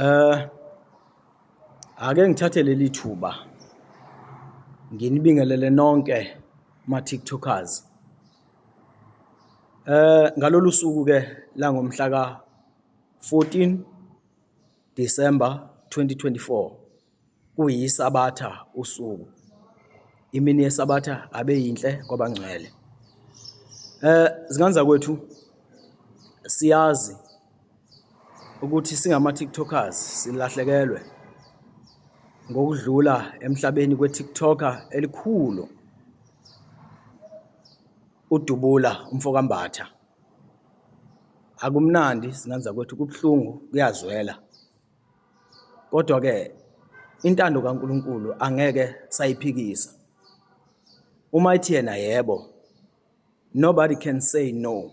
Eh ake ngithathe leli thuba nginibingelele nonke ma TikTokers. Eh ngalolu suku ke la ngomhla ka 14 December 2024 kuyisabatha usuku imini yesabatha abe yinhle kwabangcwele eh zingane zakwethu siyazi ukuthi singama TikTokers silahlekelwe ngokudlula emhlabeni kweTikToker elikhulu udubula umfokambatha akumnandi singanza kwethu kubuhlungu kuyazwela Kodwa ke intando kaNkuluNkulu angeke sayiphikisa. Uma ithi yena yebo, nobody can say no.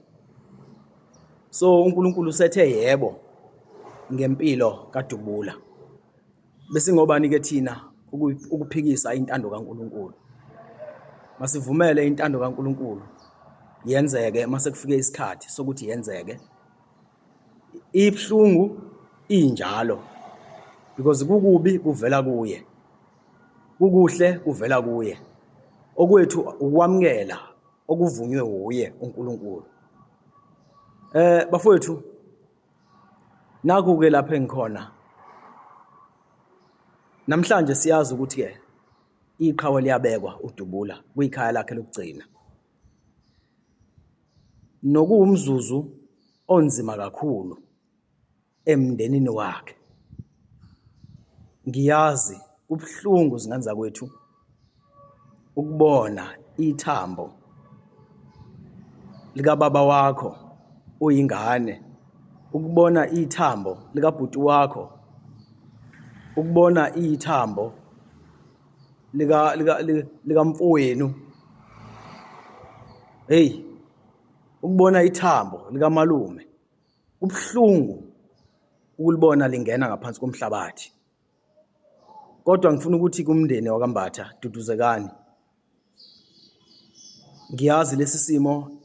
So uNkuluNkulu usethe yebo ngempilo kaDubula. Bese ngobani ke thina ukuphikisa intando kaNkuluNkulu. Masivumele intando kaNkuluNkulu yenzeke mase kufike isikhathi sokuthi yenzeke. Ibuhlungu injalo because kukubi kuvela kuye, kukuhle kuvela kuye. Okwethu ukwamukela okuvunywe wuye uNkulunkulu. Eh bafowethu naku-ke lapho engikhona namhlanje siyazi ukuthi-ke iqhawe liyabekwa udubula kwikhaya lakhe lokugcina nokuwumzuzu onzima kakhulu emndenini wakhe ngiyazi kubuhlungu zingane zakwethu ukubona ithambo likababa wakho uyingane ukubona ithambo likabhuti wakho ukubona ithambo lika lika likamfowenu hey ukubona ithambo likamalume kubuhlungu ukulibona lingena ngaphansi komhlabathi kodwa ngifuna ukuthi kumndeni wakambatha duduzekani ngiyazi lesi simo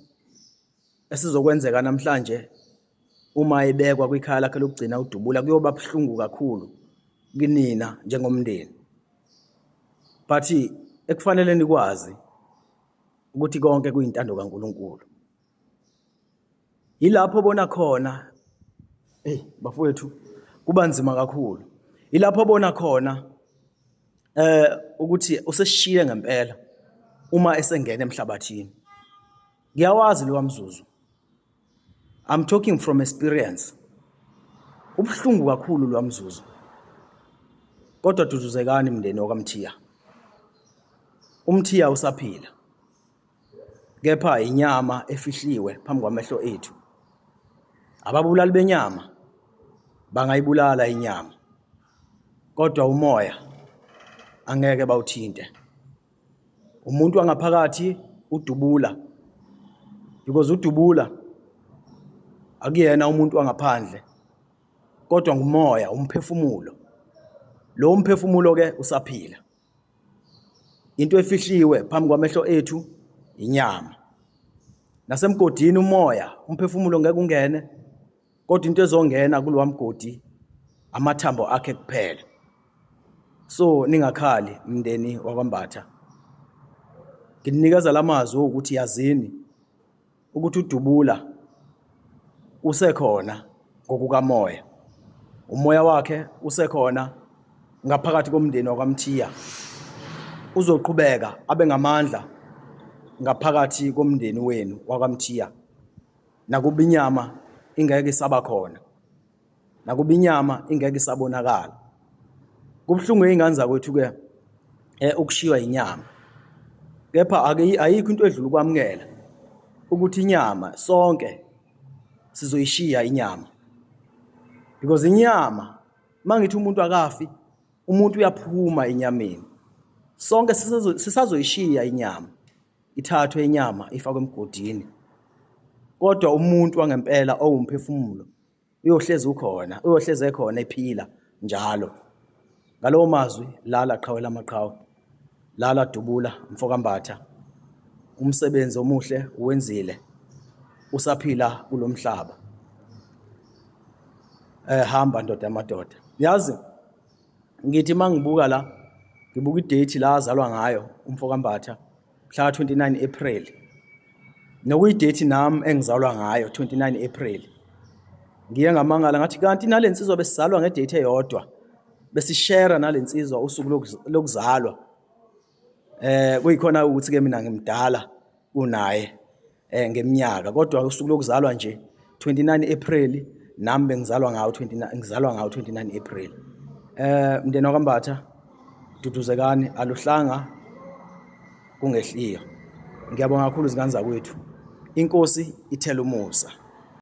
Esizokwenzeka namhlanje uma ebekwa kwikhaya lakhe lokugcina udubula kuyoba buhlungu kakhulu kunina njengomndeni. But ekufanele nikwazi ukuthi konke kuyintando kaNkuluNkulu. Yilapho bona khona hey bafowethu kuba nzima kakhulu. Yilapho bona khona eh ukuthi useshiye ngempela uma esengena emhlabathini. ngiyawazi lowa mzuzu i'm talking from experience ubuhlungu kakhulu lowa mzuzu kodwa duduzekani mndeni wakamthiya umthiya usaphila kepha inyama efihliwe phambi kwamehlo ethu ababulali benyama bangayibulala inyama kodwa umoya angeke bawuthinte umuntu wangaphakathi udubula because udubula akuyena umuntu wangaphandle kodwa ngumoya umphefumulo lo umphefumulo ke usaphila into efihliwe phambi kwamehlo ethu inyama nasemgodini umoya umphefumulo ngeke ungene kodwa into ezongena kulowa mgodi amathambo akhe kuphela so ningakhali mndeni wakwambatha ngininikeza lamazwi ukuthi yazini ukuthi udubula usekhona ngokukamoya umoya wakhe usekhona ngaphakathi komndeni wakwamthiya uzoqhubeka abe ngamandla ngaphakathi komndeni wenu wakwamthiya nakuba inyama ingeke isaba khona nakuba inyama ingeke isabonakala kubuhlungu izingane zakwethu ke eh ukushiywa inyama kepha ayikho into edlula ukwamukela ukuthi inyama sonke sizoyishiya inyama because inyama mangithi umuntu akafi umuntu uyaphuma enyameni sonke sisazoyishiya inyama Ithathwe inyama ifakwe emgodini. Kodwa umuntu wangempela owumphefumulo uyohlezi ukhona, uyohlezi ekhona ephila njalo. Ngalowo mazwi lala qhawe lamaqhawe. Lala dubula mfokambatha. Umsebenzi omuhle uwenzile. Usaphila kulomhlaba. Eh hamba ndoda yamadoda. Yazi ngithi uma ngibuka la ngibuka idate la azalwa ngayo umfo kambatha mhla ka-29 april nokuyidate nami engizalwa ngayo 29 april ngiye ngamangala ngathi kanti nale nsizwa besizalwa ngedate eyodwa besishera nale nsizwa usuku lokuzalwa Eh kuyikhona ukuthi ke mina ngimdala kunaye eh ngeminyaka kodwa usuku lokuzalwa nje 29 April nami bengizalwa ngawo 29 ngizalwa ngawo 29 April. Eh mndeni wakambatha duduzekani aluhlanga kungehliyo. Ngiyabonga kakhulu izingane zakwethu. Inkosi ithela umusa.